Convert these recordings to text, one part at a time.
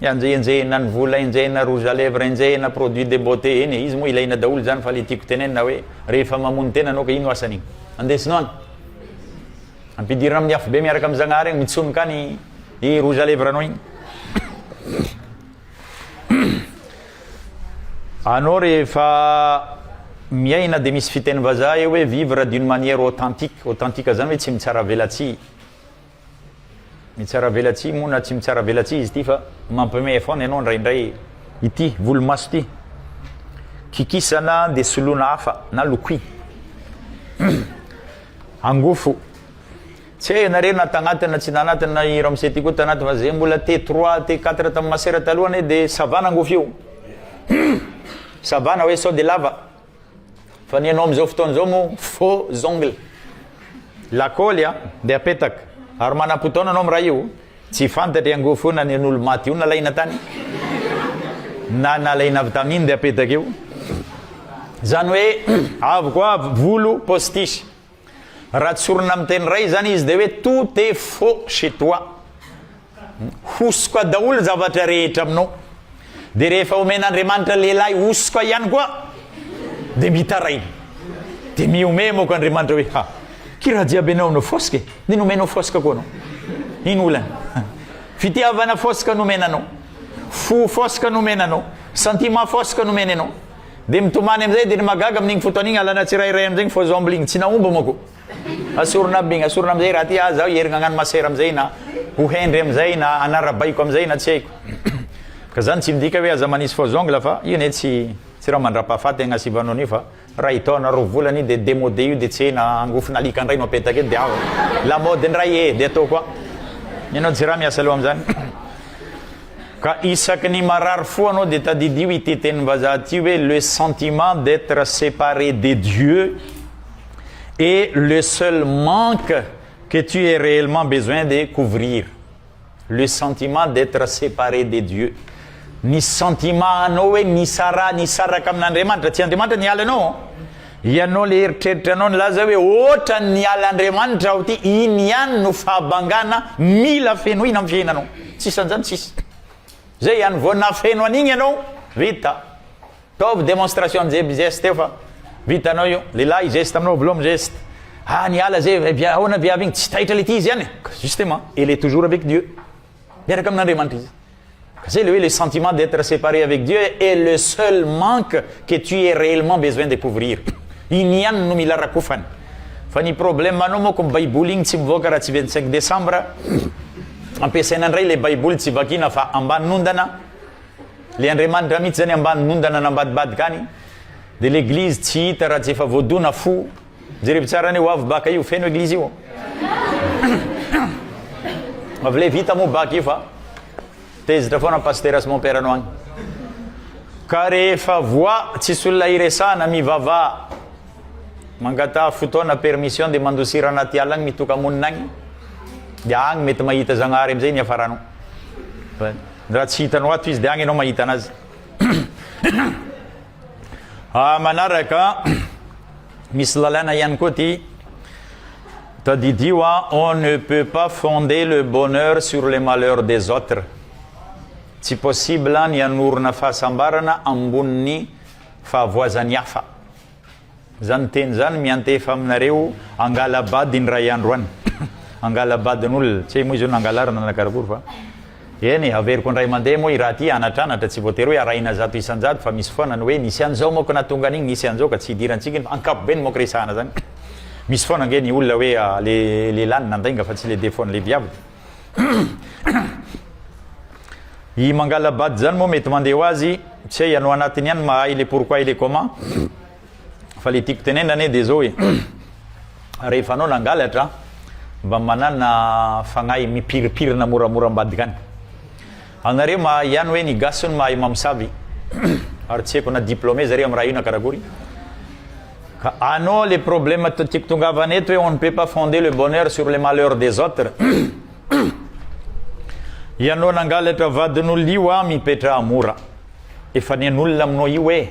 Enjehenjehina ny vola, enjehina rouge à lèvres, enjehina produits de beauté, eny e, izy moa ilaina daholo izany fa ilay tiako tenenina hoe rehefa mamono tena anao ka ino asan'iny? Andesina any. Ampidirina amin'ny afobe miaraka amin'ny Zagnahary eny, mitsonika any i rouge à lèvres anao iny. Anao rehefa miaina dia misy fiteny vazaha eo hoe vivre d'une manière authentique, authentique izany hoe tsy mitsara velatsihy. Mitsaravelatsihy moa na tsy mitsaravelatsihy izy ity fa mampimehy foana ianao indraindray ity volomaso ity. Kikisana dia soloina hafa na lokoy. Angofo. Tsy hay ianareo na tagnaty na tsy tagnaty na i Ramose ity koa tagnaty fa zay mbola T3, T4 tamin'ny masera taloha anie dia ça va ny angofo io. Ça va na hoe sao dia lava. Fa ny anao amin'izao fotoana izao moa faux ongles. Lakaoly a, dia apetaka. Ary manam-potoana anao miray io. Tsy fantatry iangoa fo na ny an'olo-maty io nalaina tany, na nalaina avy tamin dia apetaka eo. Izany hoe, avy koa volo postiche. Raha tsorina amin'ny teny iray izany izy dia hoe tout est faux chez toi. Hosoka daholo zavatra rehetra aminao. Dia rehefa omen'Andriamanitra lehilahy hosoka ihany koa dia mitaraina. Dia mihomehy moka Andriamanitra hoe ha, ki raha jiaby ianao no foska e, dia nomenao foska koa anao. Ino olana? Fitiavana foska nomena anao. Fo foska nomena anao. Sentiment foska nomena anao. Dia mitomany amin'izay dia ny mahagaga amin'iny fotoana iny alana tsirairay amin'izay ny faux omby iny tsy nahomby manko. Asorina aby iny asorina amin'izay raha aty aza aho hierigna hagnano masera amin'izay na ho hendry amin'izay na hanarabaiko amin'izay na tsy haiko. Ka izany tsy midika hoe aza manisy faux ongle fa io anie tsy tsy raha mandrapahafaty agny Sivanon io fa ray taona roa volana io dia demode io dia tsy hay na angofon'alika ndray no apetaka eto dia ao la mode ndray ee dia ataoko an ianao jirama miasa aloha amin'izany. Ka isaky ny marary fo anao dia tadidio ity tenim-bazaha ity hoe le sentiment d'etre separe de Dieu et le seul manque que tu es réellement besoin de couvrir. Le sentiment d'etre separe de Dieu. Ny sentiment anao hoe nisaraha nisaraka amin'Andriamanitra, tsy Andriamanitra niala anao. Ianao le eritreritra anao nilaza hoe otran niala Andriamanitra aho ty iny ihany no fahabangana mila fenoina am fiainanao tsisy anzany tsisy zay ihany vao nafeno an'igny ianao vita taovy demonstration amzay by geste eo fa vitanao io lehilahy geste aminao voaloha am geste ah niala zay eh, ahoana viavy igny tsy taitra le ty izy ihany justement elle est toujours avec Dieu Miaraka amin'Andriamanitra izy. Ka zay le hoe le sentiment d'être séparé avec Dieu est le seul manque que tu es réellement besoin de couvrir. Iny ihany no mila rakofana. Fa ny problème anao moa ko ny baiboly igny tsy mivoaka raha tsy 25 décembre. Ampiasaina ndray le baiboly tsy vakina fa ambanin'ondana. Le Andriamanitra mihitsy zany ambanin'ondana nambadibadika any. De l'église tsy hita raha tsy efa voadona fo. Jerevo tsara ny hoavy baka io feno eglizy io Avy le vita moa baka io fa Tezitra foana pasitera sy mon père anao agny Ka rehefa voa tsisy olona hiresahana mivava Mangataha fotoana permission dia mandosira anaty ala agny mitoka-monina agny Dia agny mety mahita Zagnahary amizay niafaranao Raha tsy hitanao ato izy dia agny ianao mahita anazy Ah, manaraka, misy lalàna ihany koa ty. Tadidio ah, on ne peut pas fonder le bonheur sur les malheurs des autres. Tsy possible ny hanorina fahasambarana ambonin'ny fahavoazan'ny hafa. Zany teny zany miantefa aminareo angalabady indray andro any angalabadin'olona tsy hay moa izy io nangalarina na karakory fa eny e averiko indray mandeha moa i raha ty anatranatra tsy voatery hoe arahina zato isan-jato fa misy foana ny hoe nisy an'izao moa ko nahatonga an'iny nisy an'izao ka tsy hidirantsika iny fa ankapobeny moa ko resahana zany misy foana ange ny olona hoe le lehilahy no nandainga fa tsy le defaut-n'ny lehibiabo I Mangalabad zany moa mety mandeha ho azy, tsy hay anao anatiny ihany mahay le pourquoi et le comment. Fa le tiako tenenina anie dia zao e. Rehefa anao nangalatra mba manana fagnahy mipiripirina moramora ambadika any. Anareo mahay ihany hoe ny gasy hono mahay mamosavy ary tsy haiko na diplôme zareo am raha io na karakory ka anô le problème tiako tongavana eto hoe on ne peut pas fonder le bonheur sur le malheur des autres ianô nangalatra vadin'olona io an mipetraha mora efa nen'olona aminô io hoe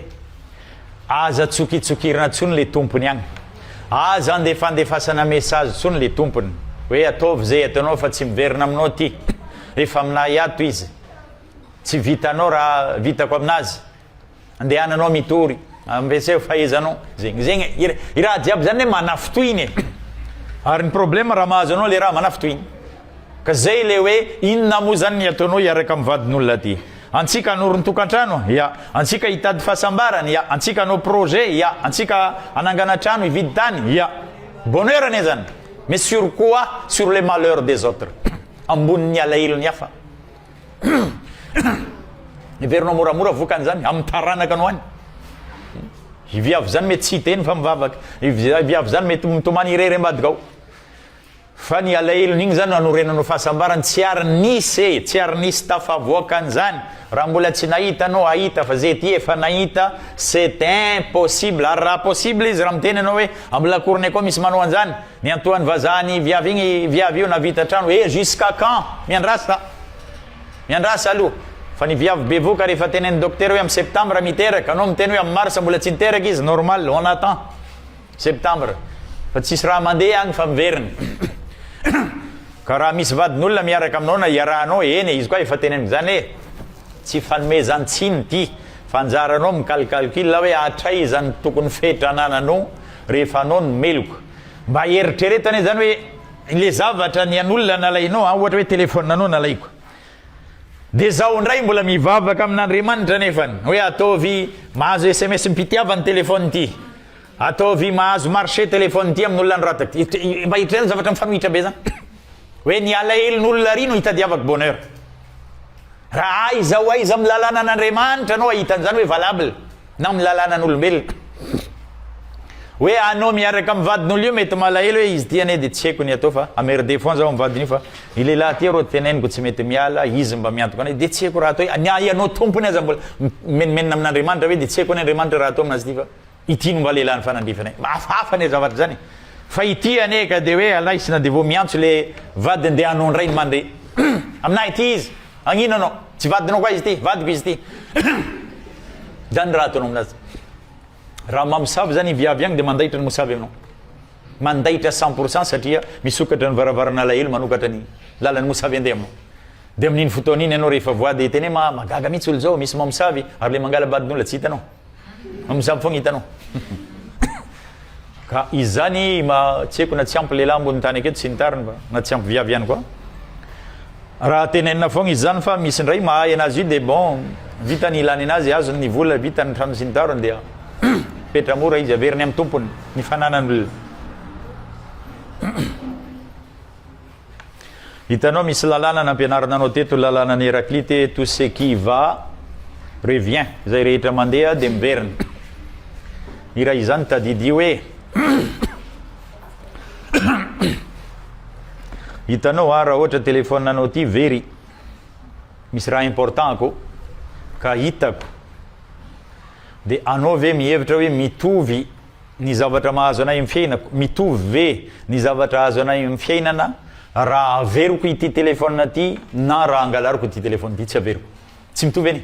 aza tsokitsokirina tsony le tompony agny aza andefandefasana message tsony le tompony hoe ataovy ze ataonao fa tsy miverina aminô ty Rehefa aminay ato izy, tsy vitanao raha vitako aminazy. Andehananao mitory, ampiaseo fahaizanao. Zegny, zegny e. I raha jiaby zany le manafitohina e. Ary ny problème raha mahazo anao le raha manafitohina. Ka zay le hoe inona moa zany ny ataonao hiaraka amin'ny vadin'olona ty? Antsika hanorin-tokantrano? Ya. Antsika hitady fahasambarana? Ya. Antsika hanao projet? Ya. Antsika hanangana trano, hividy tany? Ya. Bonheur anie zany. Mais sur quoi? Sur les malheurs des autres. Ambonin'ny alahelony hafa. Heverinao moramora vokany izany, amin'ny taranaka no any. I viavy izany mety tsy hiteny fa mivavaka. I viavy izany mety mitomany irery ambadika ao. Fa ny alahelony igny zany anorenanao fahasambarany tsy ary nisy e, tsy ary nisy tafavoaka an'izany. Raha mbola tsy nahita anao hahita fa ze ty efa nahita c'est impossible. Ary raha possible izy raha miteny anao hoe ambilakorone koa misy manao an'izany, Miantoany vazaha ny viavy igny viavy io navita trano eh jusqu'à quand? Miandrasa miandrasa aloha fa ny viavy bevoka rehefa tenen'ny docteur hoe am septembre miteraka anao miteny hoe am mars mbola tsy niteraka izy normal on attend septembre fa tsisy raha mandeha agny fa miverina ka raha misy vadin'olona miaraka aminao na iarahanao eny e izy koa efa teneniko zany hoe tsy fanomezan-tsiny ty fa anjaranao mi-calcalcul hoe hatraiza no tokony fetra anananao Rehefa anao ny meloka. Mba eritrereto anie izany hoe ilay zavatra ny an'olona nalainao an, ohatra hoe téléphone anao nalaiko. Dia izaho indray mbola mivavaka amin'Andriamanitra anefany hoe ataovy mahazo sms mpitiava ny téléphone ity. Ataovy mahazo marché téléphone ity amin'olona ny rata ity. Mba eritrereto zavatra mifanohitra be izany. hoe ny alahelon'olona ary no hitadiavako bonheur. Raha aiza ho aiza amin'ny lalànan'Andriamanitra anao ahita an'izany hoe valable na amin'ny lalànan'olombelona. Hoe anao miaraka amin'ny vadin'olona io mety malahelo hoe izy ity anie dia tsy haiko ny atao fa amerde foana zaho amin'ny vadin'io fa ny lehilahy ity arô teneniko tsy mety miala izy mba miantoka anay dia tsy haiko raha atao hoe ny ahy ianao tompony aza mbola mimenomenona amin'Andriamanitra ve dia tsy haiko ny Andriamanitra raha atao amin'azy ity fa Ity no mba lehilahy nifanandrify anay. Mba hafahafa anie zavatra izany e! Fa ity anie ka dia hoe alaisina dia vao miantso ilay vadiny dia hanao indray ny mandre. Amin'ahy ity izy, hagnino anao? Tsy vadinao koa izy ity, vadiko izy ity. Izany raha ataonao amin'azy. Raha mamosavy izany i viavy agny dia mandaitra ny mosavy aminao. Mandaitra cent pour cent satria misokatra ny varavarana alahelo manokatra ny lalan'ny mosavy handeha aminao. Dia amin'iny fotoana iny ianao rehefa voady tena hoe mahagaga mihitsy olona izao, misy mamosavy ary ilay mangala-badin'olona tsy hitanao. Mizabo foagna hitanao. Ka izany ma tsy haiko na tsy ampy lehilahy ambony tany aketo tsy nitariny fa na tsy ampy viavy ihany koa. Raha tenenina foagna izany fa misy indray mahay anazy io dia bon vita ny ilany anazy azony ny vola vita ny trano sy ny tarony dia petra mora izy averiny amin'ny tompony ny fananan'olona. Hitanao misy lalàna nampianarina anao teto ny lalànan'i Héraclite hoe tout ce qui va revient, izay rehetra mandeha dia miverina. Ny iray izany tadidio hoe hitanao a raha ohatra téléphone anao ity very misy raha important ko ka hitako dia anao ve mihevitra hoe mitovy Ny zavatra mahazo anay amin'ny fiainako, mitovy ve ny zavatra azo anay amin'ny fiainana raha averiko ity telefaonina ity na raha angalariko ity telefaonina ity? Tsy averiko. Tsy mitovy anie.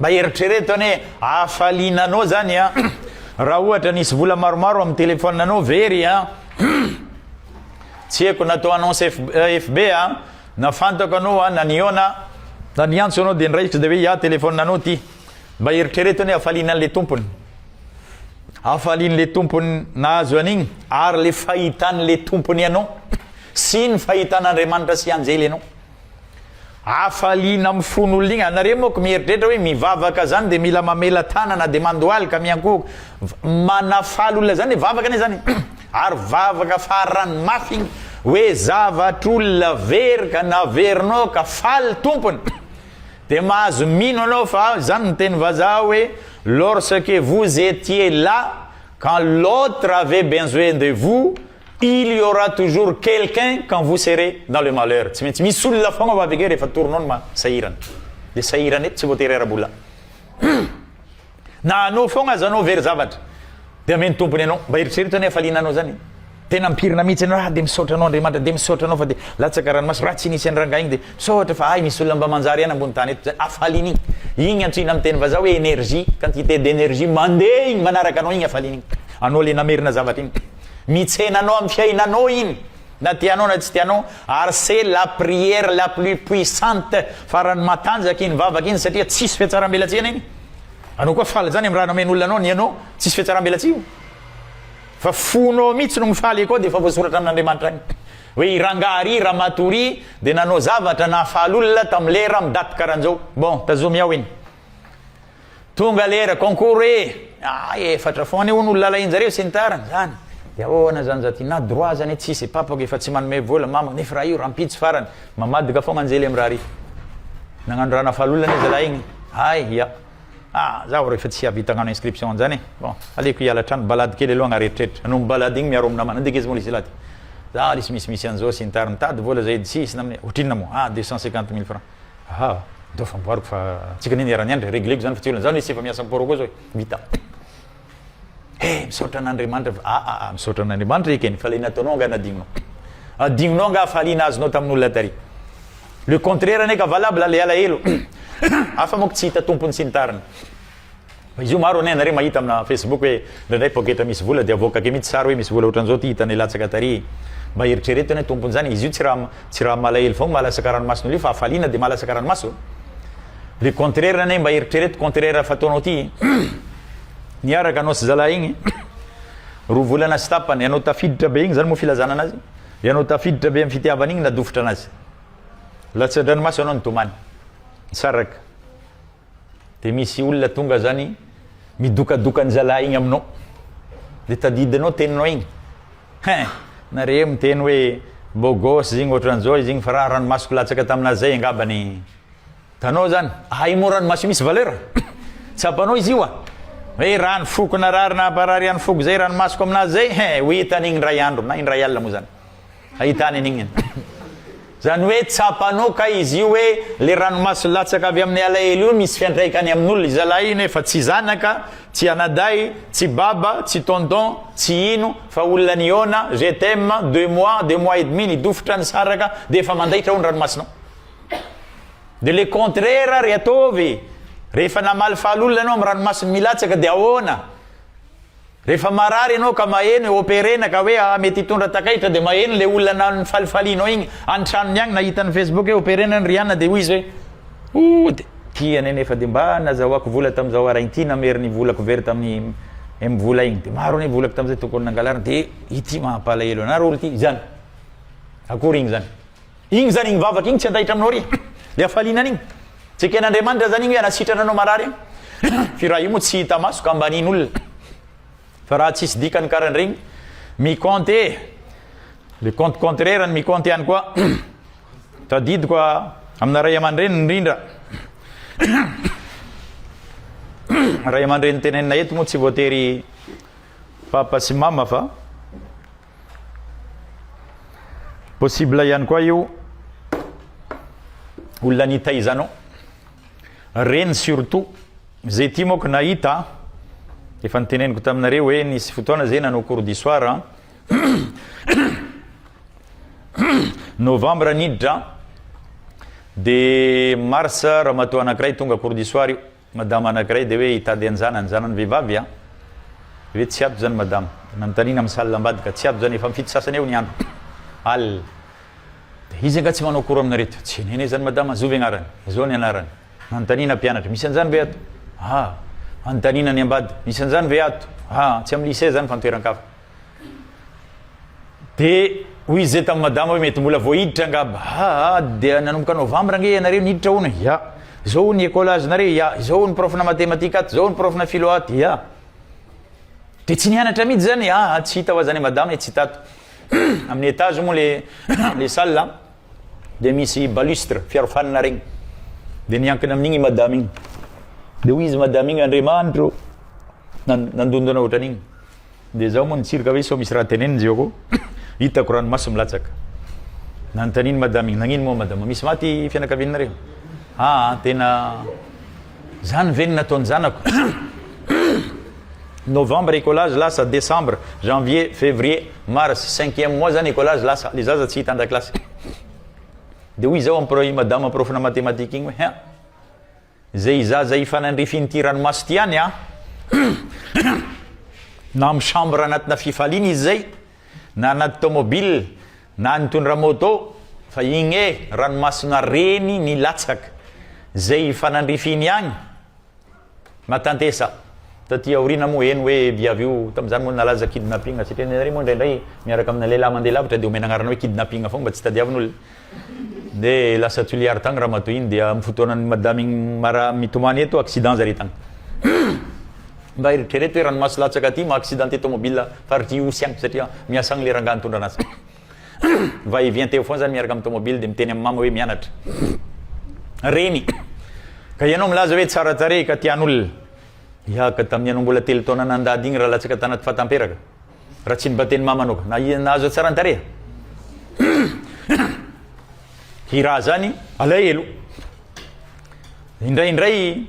Mba eritrereto anie, hafaliana anao zany an, raha ohatra nisy vola maromaro amin'ny telefaonina anao very an, tsy haiko natao annonce FB an, na fantako anao an, na nihaona, na niantso anao dia ny raikitra dia hoe iah telefaonina anao ity. Mba eritrereto anie hafaliana an'le tompony. Hafalian'le tompony nahazo an'igny ary le fahitan'le tompony anao sy ny fahitan'Andriamanitra sy anjely anao. Hafaliana amin'ny fon'olona igny. Anareo moko mieritreritra hoe mivavaka zany dia mila mamela tanana dia mandohalika miankohoka. Manafaly olona zany le vavaka anie zany. Ary vavaka farany mafy igny hoe zavatr'olona very ka naverinao ka faly tompony. Dia mahazo mino anao fa izany ny teny vazaha hoe lorsque vous etiez là quand l'autre avait benzoin de vous il y aura toujours quelqu'un quand vous serez dans le malheur tsy maintsy misy olona foagna ho avy ake rehefa torinao ny ma sahirana dia sahirana eto tsy voatery ara-bola Na anao foagna aza anao very zavatra dia amen'ny tompony anao. Mba eritrereto ny hafaliana anao zany e. Tena ampirina mihitsy anao ah dia misaotra anao Andriamanitra dia misaotra anao fa dia latsaka ranomaso raha tsy nisy an'i rangahy igny dia misaotra fa hay misy olona mba manjary ihany ambony tany eto zany hafaliana igny. Igny antsoina amin'ny teny vazaha hoe énergie, quantité d'énergie mandeha igny manaraka anao igny hafaliana igny. Anao le namerina zavatra igny. Mitsena anao amin'ny fiainanao igny na tianao na tsy tianao ary c'est la prière la plus puissante, farany matanjaka iny vavaka iny satria tsisy fiatsarambelatsihy anao igny. Anao koa faly zany am raha nomen olona anao ny anao tsisy fiatsaram belatsihy fa fonao mitsy no mifaly akao de efa voasoratra amin Andriamanitra agny hoe i rangaha ry ramatoa ry de nanao zavatra nahafaly olona tam lera am date karanjao bon tazomy ao iny tonga lera concours ee ah efatra fôgna anie hono olona alain jareo sy ny tariny zany de ahoana zany za ty na droit zany tsisy papako efa tsy manome vola mamako nefa raha io rampitso farany Mamadika fogna anjely am raha ry. Nagnano raha nafahalalolana i zalahy igny. Hay ya. Ah zaho refa tsy ahavita agnano inscription anjany e. Bon, aleoko hiala hatrany, balade kely aloha agnareritreritry. Anombo balade igny miaro amina mana. Ndeke izy moa le zalahy ty. Za lesy misy misy anzao sy ny tariny. Mitady vola zahay edy tsisy namne. Ohatrinona moa? Ah deux cent cinquante mille francs. Aha, ndao fa amboariko fa antsika anie niara niandry, regleko zany fa tsy olana. Za lesy efa miasa am port koa zao e. Vita. Hey, misaotra an'Andriamanitra fa ah, ah, ah, misaotra an'Andriamanitra ekeny fa ilay nataonao angaha nadinonao. Adinonao angaha fahaliana azonao tamin'olona tary. Le contraire anie ka valable le alahelo. Hafa moa tsy hita tompony sy ny tariny. Fa izy io maro anie anareo mahita amina Facebook hoe indraindray poketra misy vola dia avoaka ke mihitsy sary hoe misy vola ohatran'izao ty hitanay latsaka tary. Mba eritrereto anie tompon'izany izy io tsy raha tsy raha malahelo foagna mahalasaka ranomason'olio fa hafaliana dia mahalasaka ranomaso. Ry contraire anie mba eritrereto contraire fataonao ty Niaraka anao sy zalahy igny roa volana sy tapany ianao tafiditra be igny zany moa filazana anazy ianao tafiditra be am fitiavana igny nadofitra anazy latsadranomaso anao nitomany nisaraka de misy olona tonga zany midokadoka ny zalahy igny aminao de tadidinao teninao igny hein nareo miteny hoe beau gosse zegny ohatran'izao izy igny fa raha ranomasoko latsaka taminazay angabany Tanao zany ahay moa ranomaso io misy valeur a! Tsapanao izy io a! Hoe rano foko narary nahabarary ihany foko zay ranomasoko aminazy zay he! ho hita an'igny ndray andro na indray alina moa zany hahitany an'igny zany hoe tsapanao kay izy io hoe le ranomaso latsaka avy amin'ny alahelo io misy fiantraikany amin'olona izalahy io nefa tsy zanaka, tsy anadahy, tsy baba, tsy tonton, tsy ino fa olona nihaona, je t'aime, deux mois, deux mois et demi, nidofotra, nisaraka, dia efa mandaitra ao ny ranomasonao. De le contraire ary ataovy e! Rehefa namalifaly olona ianao amin'ny ranomasin'ny milatsaka dia ahoana? Rehefa marary ianao ka maheno e operena ka hoe ah mety hitondra takaitra dia maheno le olona nifalifalianao igny any tranony agny na hitan'ny facebook hoe operena an'i Rihanna dia hoy izy hoe oh de ty anie nefa de mba nazahoako vola tam'zao ara ity namery ny volako very tamin'ny em vola igny de maro anie volako tam'zay tokony nangalarina de ity mampalahelo anaro olo ty zany akory igny zany Igny zany igny vavaka igny tsy andahitra aminao re le hafaliana an'igny tsy eken'Andriamanitra zany igny hoe hanasitrana anao marary igny f'io raha io moa tsy hita maso ka ambanin'olona fa raha tsisy dikany karan'iregny mi-compte le compte contraire ny mi-compte ihany koa tadidiko amina ray aman-dreny indrindra ray aman-dreny tenenina eto moa tsy voatery papa sy mama fa Possible ihany koa io olona nitaizanao. Reny surtout, zay ty moko nahita, efa niteneniko taminareo hoe nisy fotoana zay nanao cours du soir an. Novembre niditra, de mars ramatoa anankiray tonga cours du soir io. Madama anakiray de hoe hitady anjanany, zanany vehivavy an! ve tsy ato zany madama? Nanontaniana amin'ny salle ambadika, tsy ato zany efa mifito sasany eo ny andro, alina, de izy angaha tsy manao cours aminarito? Tsy nenay zany madama, zovy agnarany? Zao ny anarany, nanontaniana mpianatra, misy anjany ve ato? Aa! anontaniana ny ambady, misy anjany ve ato? Aa! tsy amin'ny lycée zany fa any toeran-kafa. dia hoy izy zay tamin'i madama hoe mety mbola vao hiditra angamba aa dia nanomboka novambra ange ianareo niditra hono ya izao ny école azonareo ya izao ny profna mathématique ato izao ny profna philo ato ya dia tsy nianatra mihitsy zany aa tsy hita ho azany madama e tsy tato amin'ny étage moa le le salle dia misy balustre fiarofanina regny dia niankina amin'igny i madama igny dia hoy izy madama igny andriamanitro nandondona ohatran'igny Dia izaho moa nitsiry ka hoe sao misy raha teneniny izy eo koa hitako ranomaso milatsaka. Nanontanian'i Madame iny, nagnino moa Madama, misy maty fianakavianareo? Aa, tena zany ve no nataon'ny zanako? Novembre écolage lasa, décembre, janvier, février, mars, cinquième mois zany écolage lasa, le zaza tsy hita an-dakilasy. Dia hoy izaho amin'i Madama porofona mathématique iny hoe, hein! Izay hizaza hifanandrifin'ity ranomaso ity ihany na amin'ny chambre anatina fifaliana izy izay na anaty tomobile na nitondra moto fa igny e ranomasona reny nilatsaka izay hifanandrifiny ihany matantesa taty aoriana moa eny hoe viavy io tamin'izany moa nalaza kidnapping satria ny anareo moa indraindray miaraka amina lehilahy mandeha lavitra dia omena anarana hoe kidnapping foagna mba tsy tadiavin'olona Nde lasa tsuliary tagny ramatoa igny dia am fotoanan'ny madama igny mara mitomany eto accident zare tagny. Mba eritrereto hoe ranomaso latsaka aty maha accidenté tomobile faritry Ihosy agny satria miasa agny le rangah nitondra anazy. Va et vient eo foana zany miaraka am tomobile de miteny am mama hoe mianatra reny ka ianao milaza hoe tsara tarehy ka tian'olona hiahaka tamin'ny ianao mbola telo taona nandady igny raha latsaka tanaty fata amperaka. Raha tsy mba teny mama anao. Na ianao aza tsara ny tarehy. Hira zany alahelo. Indraindray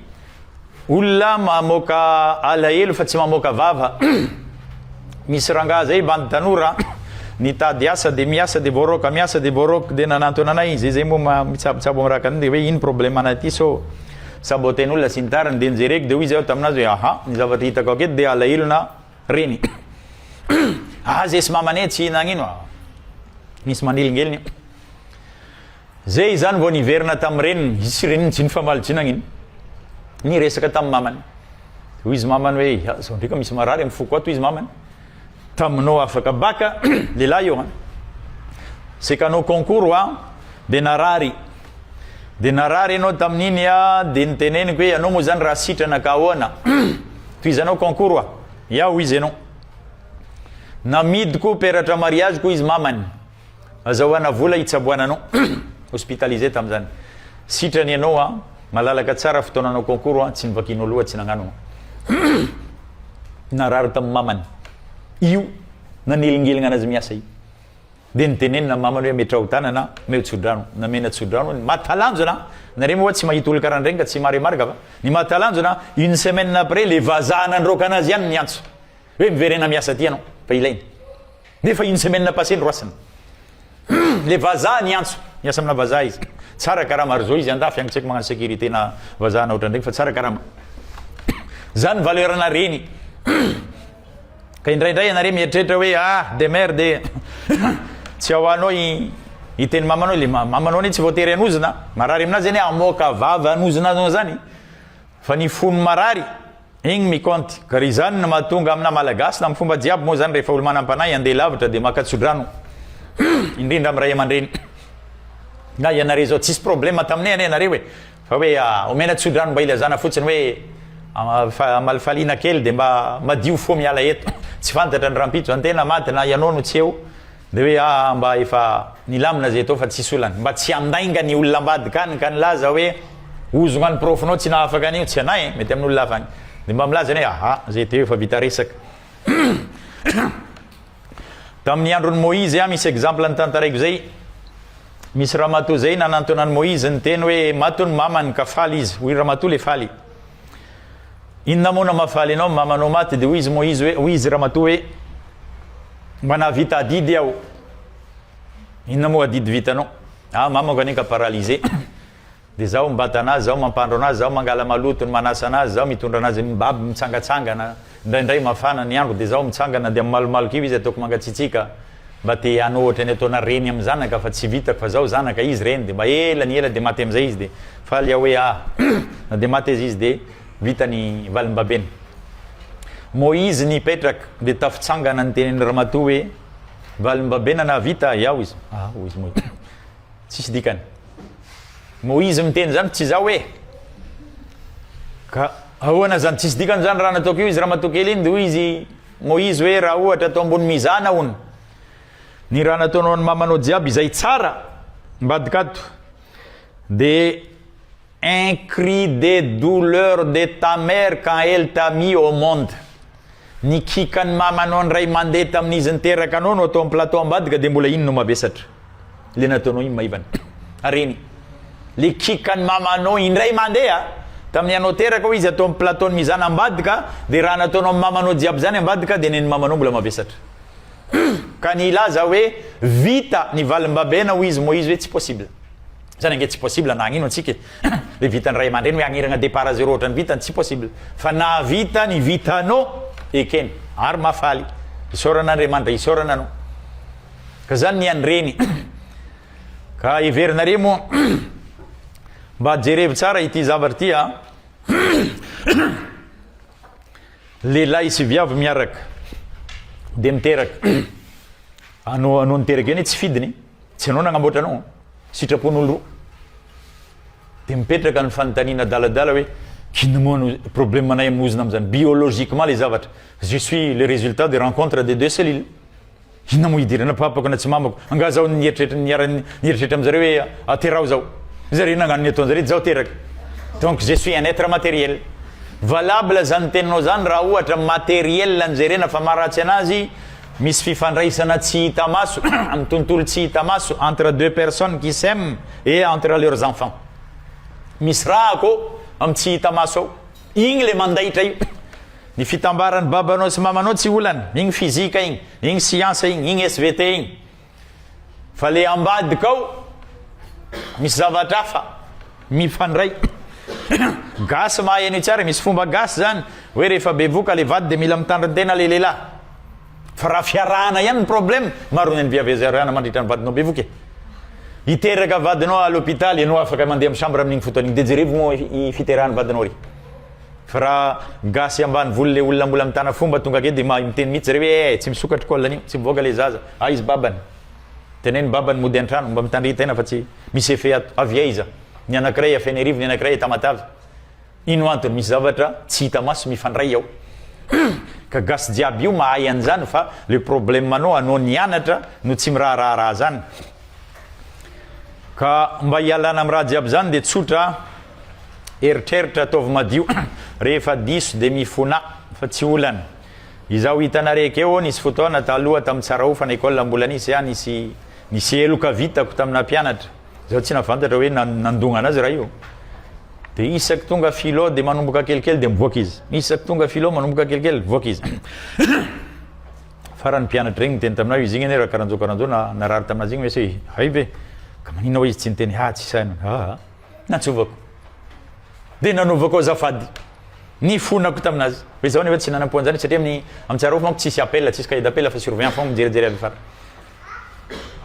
olona mamoaka alahelo fa tsy mamoaka vava. Misy rangaha zay bandy tanora nitady asa dia miasa dia voaroaka miasa dia voaroaka dia nanantona anay izay izay moa mitsabitsabo amin'ny rakany dia hoe ino problème anay ity so saboten'olona sy ny tariny dia nijereko dia hoy izy aho taminazy hoe aha ny zavatra hitako aketo dia alahelona Reny. Aze sy mama ne tsy nagnino a. Nisy manelingelina io. Ze izany vao niverina tamin'ny reniny, izy sy reniny tsy nifamaly tsy nagnino. Niresaka tamin'ny mamany. Hoy izy mamany hoe, ah, zao ndraika misy marary amin'ny foko ato izy mamany. Taminao afaka baka, lehilahy io an. Sekanao concours wa, dia narary. Dia narary ianao tamin'iny a, dia niteneniko hoe ianao moa izany raha sitrana ka ahoana? Tohizanao concours hoa? Ia hoy izy ianao. Namidiko peratra mariage ko izy mamany. Azahoana vola hitsaboana anao. Hospitalisé tamin'izany. Sitrana ianao a, malalaka tsara fotoana hanao concours a, tsy novakianao loha, tsy nagnano narary tamin'ny mamany io nanelingelina anazy miasa io. Dia nitenenina ny mamany hoe metraho tanana an, omeo tsodrano. Namena tsodrano hono. Mahatalanjona an! Nareo moa wa tsy mahita olon-karaha an'ireny ka tsy maremarga fa ny mahatalanjona an, une semaine après le vazaha nandroaka anazy ihany niantso hoe miverena miasa aty ianao fa ilaina. Nefa une semaine passée noroasina. Hum! Le vazaha niantso. Miasa amina vazaha izy. Tsara karama ary zao izy andafy any tsy haiko magnano sécurité na vazaha na ohatran'ireny fa tsara karama. Zany valeur-na reny. Hum! Ka indraindray ianareo mieritreritra hoe ah demeure de tsy ao anao i i teny mamanao le mamanao ne tsy voatery anozina marary aminazy zany amoaka vava anozina anao zany fa ny fony marary igny mikônty ka ry zany no mahatonga amina malagasy na amin'ny fomba jiaby moa zany rehefa olo manam-panahy andeha lavitra de maka tsodrano indrindra amin'ny ray aman-dreny na ianareo zao tsisy problema taminay anie ianareo e Fa hoe omena tsodrano mba hilazana fotsiny hoe amalifaliana kely dia mba madio fo miala eto. Tsy fantatra ny rahampitso zany tena maty na ianao no tsy eo dia hoe aa mba efa nilamina zay tao fa tsisy olana. Mba tsy handainga ny olona ambadika any ka nilaza hoe ozogna ny profonao tsy nahafaka anio. Tsy anay e, mety amin'olona hafa any. Dia mba milaza ny hoe aa zay teo efa vita resaka. Tamin'ny andron'i Moizy aho, misy exemple notantaraiko zay, misy ramatoa zay nanantona an'i Moizy niteny hoe maty ny mamany ka faly izy, hoy ramatoa le faly. Inona moa no mahafaly anao ny mamanao maty dia hoy izy Moizy hoe, hoy izy ramatoa hoe mba nahavita adidy aho. Inona moa adidy vitanao? Ah mamako anie ka paralysé. Dia zaho mibata anazy, zaho mampandro anazy, zaho mangala maloto ny manasa anazy, zaho mitondra anazy mibaby mitsangatsangana, indraindray mafana ny andro dia zaho mitsangana dia mimalomaloka io izy ataoko mangatsitsiaka mba te hanao ohatran'ny ataona reny amin'ny zanaka fa tsy vitako fa zaho zanaka izy reny dia mba ela ny ela dia maty amin'izay izy dia faly aho hoe ah na dia maty aza izy dia vita ny valimbabena moa izy nipetraka dia tafitsangana ny tenin'ny ramatoa hoe valimbabena nahavita ahy aho izy ah hoy izy moa Tsisy dikany. Moizy miteny zany tsy zao hoe. Ka ahoana zany tsisy dikany zany raha nataoko io izy ramatoa kely iny de hoy izy Moizy hoe raha ohatra atao ambony mizana hono. Ny raha nataonao ny mamanao jiaby izay tsara mbadika ato. De Un cri de douleur de ta mère quand elle t'a mis au monde, ny kikan'ny mamanao indray mandeha tamin'izy niteraka anao no atao amin'ny plateau ambadika dia mbola iny no mavesatra, ilay nataonao iny maivana, ary eny ilay kikan'ny mamanao indray mandeha tamin'ny anao teraka hoy izy atao amin'ny plateau-n'i mizana ambadika dia raha nataonao amin'ny mamanao jiaby izany ambadika dia ny an'ny mamanao mbola mavesatra ka ny hilaza hoe vita ny valim-babena hoy izy Moizy hoe tsy possible Zany ange tsy possible na hagnino antsika e! le vitan'ny ray aman-dreny hoe hagniragna départ à zéro ohatrany vitany tsy possible fa na vitany i vitanao ekeny ary mahafaly isaorana Andriamanitra isaorana anao ka zany ny an'ny reny ka heverinareo moa mba jerevo tsara ity zavatra ity a lehilahy sy viavy miaraka dia miteraka anao anao niteraka eny tsy fidiny Tsy anao nagnamboatra anao an! Sitrapon'olo roa. Dia mipetraka ny fanontaniana adaladala hoe, inona moa no problemanay amin'ny ozona amin'izany? Biologiquement ilay zavatra, je suis le résultat de rencontre de deux cellules. Inona moa hidirana papako na tsy mamako? Angaha zaho nieritreritra niara- nieritreritra amin'izareo hoe ateraho zaho. Zareo nagnano ny ataon'zareo dia zaho teraka. Donc je suis un être matériel. Valable izany teninao izany raha ohatra matériel no jerena fa maha ratsy anazy Misy fifandraisana tsy hita maso amin'ny tontolo tsy hita maso entre deux personnes qui s'aiment et entre leurs enfants. Misy raha akao amin'ny tsy hita maso ao. Igny ilay mandaitra io. Ny fitambaran'ny babanao sy mamanao tsy olana. Igny fizika igny, igny siansa igny, igny SVT igny. Fa le ambadika ao misy zavatra hafa mifandray. Gasy mahay an'io tsara, misy fomba gasy zany hoe rehefa bevoka le vady de mila mitandrin-tena le lehilahy. Fa raha fiarahana ihany ny problème, maro ny an'ny viavy aza arahana mandritra ny vadinao bevoka e. Hiteraka vadinao à l'hôpital, ianao afaka mandeha amin'ny chambre amin'iny fotoana iny, de jerevo moa i fiterahan'ny vadinao re. Fa raha gasy ambanivolo le olona mbola mitana fomba tonga ake de mahay miteny mitsy zareo ee tsy misokatra col anio tsy mivoaka le zaza aiz babany teneno babany mody antrano mba mitandria tena fa tsy misy effet ato avy aiza ny anakiray a fenerivo ny anakiray a tamatave ino antony misy zavatra tsy hita maso mifandray ao ka gasy jiaby io mahay anzany fa le probleme anao anao nianatra no tsy miraharaha raha zany Ka mba hialana amin'ny raha jiaby izany dia tsotra, eritreritra, ataovy madio, rehefa diso dia mifona fa tsy olana. Izaho hitanareo ekeo, nisy fotoana taloha tamin'ny Tsarahofana école mbola nisy aho nisy nisy heloka vitako tamina mpianatra, izaho tsy nafantatra hoe nandongana azy raha io, dia isaky tonga philo dia manomboka kelikely dia mivoaka izy, isaky tonga philo manomboka kelikely mivoaka izy. Farany ny mpianatra regny niteny taminao izy igny anie rakaranjo karanjo na narary taminazy igny mese hay ve ka magnina oa izy tsy niteny ha tsy sahy nanao aa nantsovako de nanaovako azafady ny fonako taminazy hoe zao nefa tsy nanampo anzany satria amin'ny amin'ny tsarofo manko tsisy appel tsisy cahier d'appel fa surveillant fogna mijerijery avy fara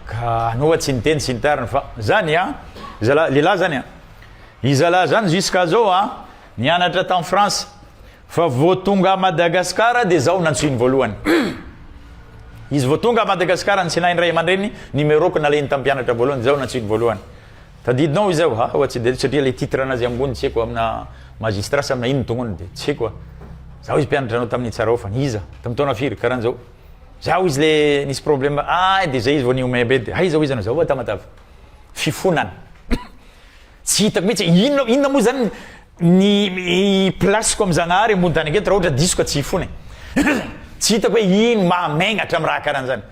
ka anao oa tsy niteny tsy nitarina fa zany a zala lehilahy zany a i zala zany jusqu'à zao a nianatra tany France Fa vao tonga à Madagascar dia zao nantsoiny voalohany. Izy vao tonga à Madagascar nitsinahin'ny ray aman-dreniny numeroko nalehiny tamin'ny mpianatra voalohany dia zao nantsoiny voalohany. Tadidinao izay hoa hoa tsy dia haiko satria ilay titre anazy ambony tsy haiko amina magistrat sa amina inona tonony dia tsy haiko hoa. Zaho izy mpianatra anao tamin'ny Tsarahofany. Iza? Tamin'ny taona firy? Karan'izao. Zaho izy le nisy problème ahy dia zay izy vao nihomehy be dia aiza hoy izy anao? Zao hoa Tamatave. Fifonana. Tsy hitako mihitsy inona inona moa zany ny place-ko amin'i Zagnahary ambony tany aketo raha ohatra diso ka tsy hifona e! tsy hitako hoe ino mahamaignatra amin'ny raha karan'izany?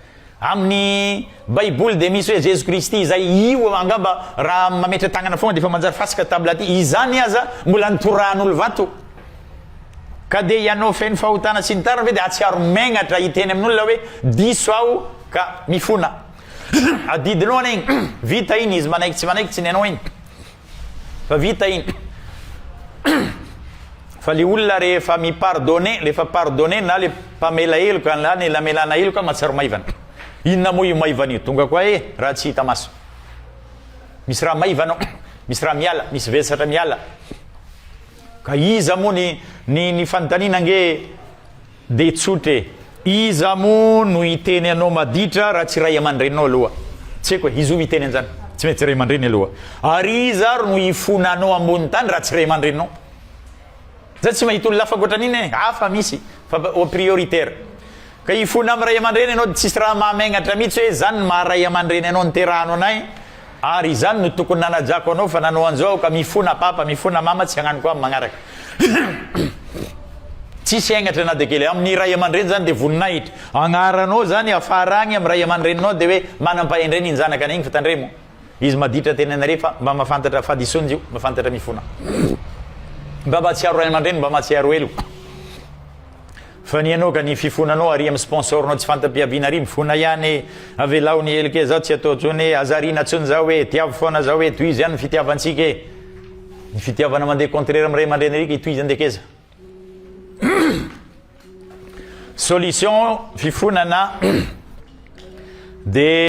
Amin'ny baiboly dia misy hoe Jesoa Kristy izay, io angamba raha mametra-tagnana foagna dia efa manjary fasika table aty, izany aza mbola nitorahan'olo vato, ka dia ianao feno fahotana sy ny tariny ve dia hahatsiaro maignatra hiteny amin'olona hoe diso aho ka mifona? adidy lohana igny, vita igny izy manaiky tsy manaiky tsy ny anao igny. Fa vita iny. Fa le olona rehefa mi-pardonner, le efa pardonner na le mpamela heloka na le namelana heloka mahatsiaro maivana. Inona moa io maivana io? Tonga koa eh, raha tsy hita maso. Misy raha maivana ao, misy raha miala, misy vesatra miala. Ka iza moa ny ny ny fanontaniana ange Dia tsotra e! Iza moa no hiteny anao maditra raha tsy ray aman-dreninao aloha? Tsy haiko e! Iza hoy hiteny an'izany? Tsy mety ray aman-dreny aloha. Ary iza ary no hifona anao ambony tany raha tsy ray aman-dreninao? Izaho tsy mahita olona hafa ankoatran'iny e! Hafa misy fa au prioritaire. Ka hifona amin'ny ray aman-dreny ianao dia tsisy raha mahamenatra mihitsy hoe izany no maha ray aman-dreny anao niterahano anay. Ary izany no tokony nanajako anao fa nanao anzao aho ka mifona papa mifona mama tsy hagnano koa am magnaraka tsisy henatra na de kely am ny ray amandreny zany de voninahitra agnaranao zany afara agny am ray amandreninao de hoe manam pahendrey ny njanakanay igny fa tandremo izy maditra tena nare fa mba mafantatra fadison jio mafantatra mifona mba matsiaro ray amandreny mba matsiaro elo Fa ny anao ka ny fifonanao ary am sponsor nao tsy fantapiaviana ary mifona ihany e! Avelao ny helika e! Zao tsy atao tsony e! Aza ariana tsony zao e! Tiavo foana zao e! Tohizo ihany ny fitiavantsika e! Ny fitiavana mandeha contraire am ray aman-dreny ary ka itohiza ndeha keza! Solution fifonana dia.